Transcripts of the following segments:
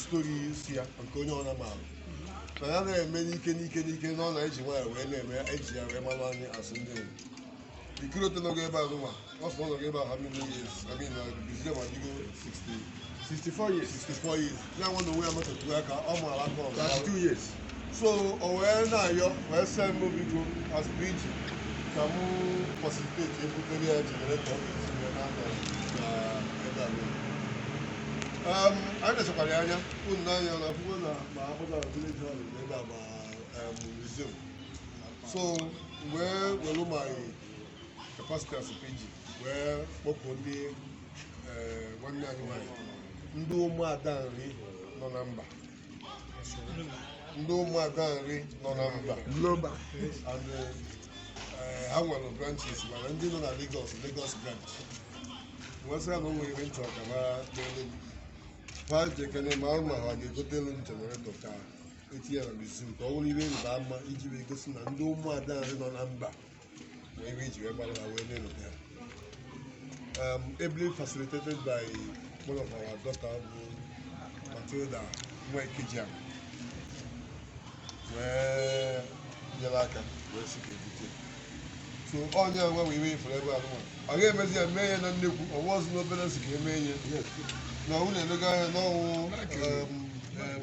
stori isi ya nke onye ọna ma alụ na ya na-eme n'ike n'ike n'ike na ọ na-eji nwayọ wee na-eme eji ya wee mara anyị as ndị Igbo curator nọgo ebe azụ nwa ọ sọ nọgo ebe a how many years I mean uh, museum adịgo 60 64 years 64 years ya nwa na onwe ya metụtụ aka ọ maara aka ọrụ 32 years so o wee na-ayọ wee sị m biko as PG ka m facilitate ebutere ya generator ọ ga-eji wee na-anọ na ebe a niile. Um, anyị lechakwara ya anya unu n'anya na akwụkwọ na ma akpọta na village hall na ebe a ma um, museum so wee were my capacity as PG wee kpọkụ ndị eh, nwanne anyị nwanyị ndị ụmụada Nri nọ na mba ndị ụmụada Nri nọ na mba Global. and eh, ha nwere branches mana ndị nọ na Lagos Lagos branch m wee sị ha na o nwere ihe m chọ ka ha dịrị m ha lekene ma ma ha ga-egotelu m generator ka etinye na museum ka ọ bụrụ ihe ịrịba ama iji wee gosi na ndị ụmụada Nri nọ na mba wee ebe iji wee gbara ha wee na-elote ha um, ably facilitated by one of our daughter bụ Matilda Nwekijia wee nyere aka wee sị ka ebute so onye nwe wee iwe ifere ebe ahụ ọ ga-emezi ya mee ya na nnekwu ọ wụrọzị n'obere sị ka emee ya na ọnwụ na-edoga anya n'ọnwụ um, um,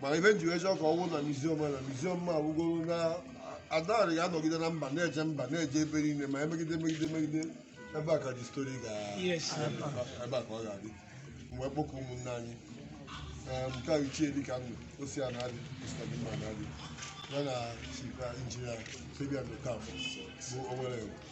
mana ife m ji wee chọọ ka ọ wụ na museum na museum ma awụgoro na Ada Nri ga-anọgide na mba na-eje mba na-eje ebe niile ma emegide megide megide ebe a ka history ga Yes. ebe a ka ọ ga-adị m wee kpọkọ ụmụnne anyị Ee, nke a ichie dịka ndụ osi a na-adị Mr. Dima na-adị ya na Chief Engineer Fabian Okafor bụ Owerri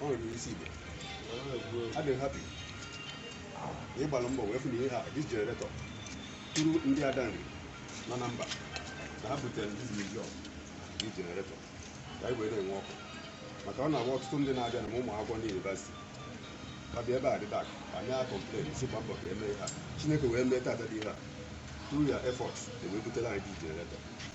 Ọ nwere isi Igbo. Adị m happy. Ị gbara mbọ wee fụ na ihe a this generator through ndị Ada Nri nọ na mba na ha butere this museum this generator ka anyị wee na-enwe ọkụ maka ọ na-abụ ọtụtụ ndị na-abịa na ma ụmụ akwụkwọ ndị university ha bịa ebe a dị dark a na-complain sị gba mbọ ka emee ha Chineke wee mee tata dị ihe a through your efforts ewee butere anyị this generator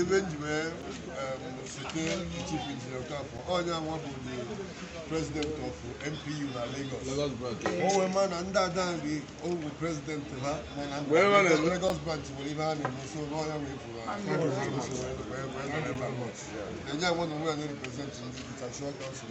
ife m ji wee site Chief Engineer Okafor ọ ya nwa bụ the president of NPU na Lagos o wee ma na ndị Ada Nri ọ wụ president ha mana Lagos branch nwere ihe a na-eme so n'ọnya wee bụrụ na ya nwa na onwe ya na-represent ndị Dutch Council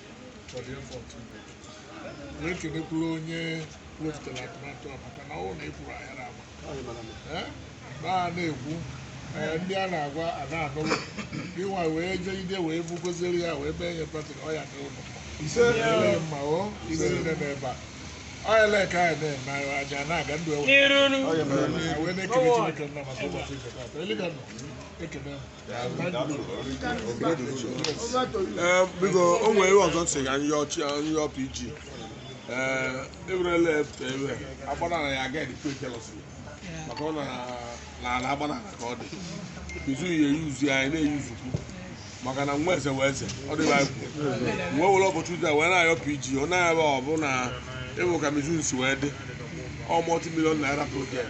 na-ekenekwuru onye wepụtara atụmatụ a maka na ọ na ekwuru ahịara ama a na-ekwu ndị a na-agwa a na-anụrụ ịnwa wee jee ide wee bugoziri ya wee mee ihe patị ọ ya n'ụlọ ma o ibe niile n'ebe a ọ ya ka anyị na-eme aja na-aga ndụ e wee na-ekele Chineke nna maka ụbọchị nke taata eliga nọ ekele Ee, biko o nwere ihe ọzọ m sị ka anyị yọọ chi anyị yọọ PG ee ewerela iwe agbanala ya aga edikwe jealousy maka ọ na na ala agbanala ka ọ dị izu ya eyuzu ya anyị na-eyuzukwu maka na nwa eze wee eze ọ dịghị anyị kwuru wee were ụbọchị taa wee na-ayọ PG ọ na-ebe ọ bụ na ịbụ ka mizu nsi wee dị ọ multi-million naira project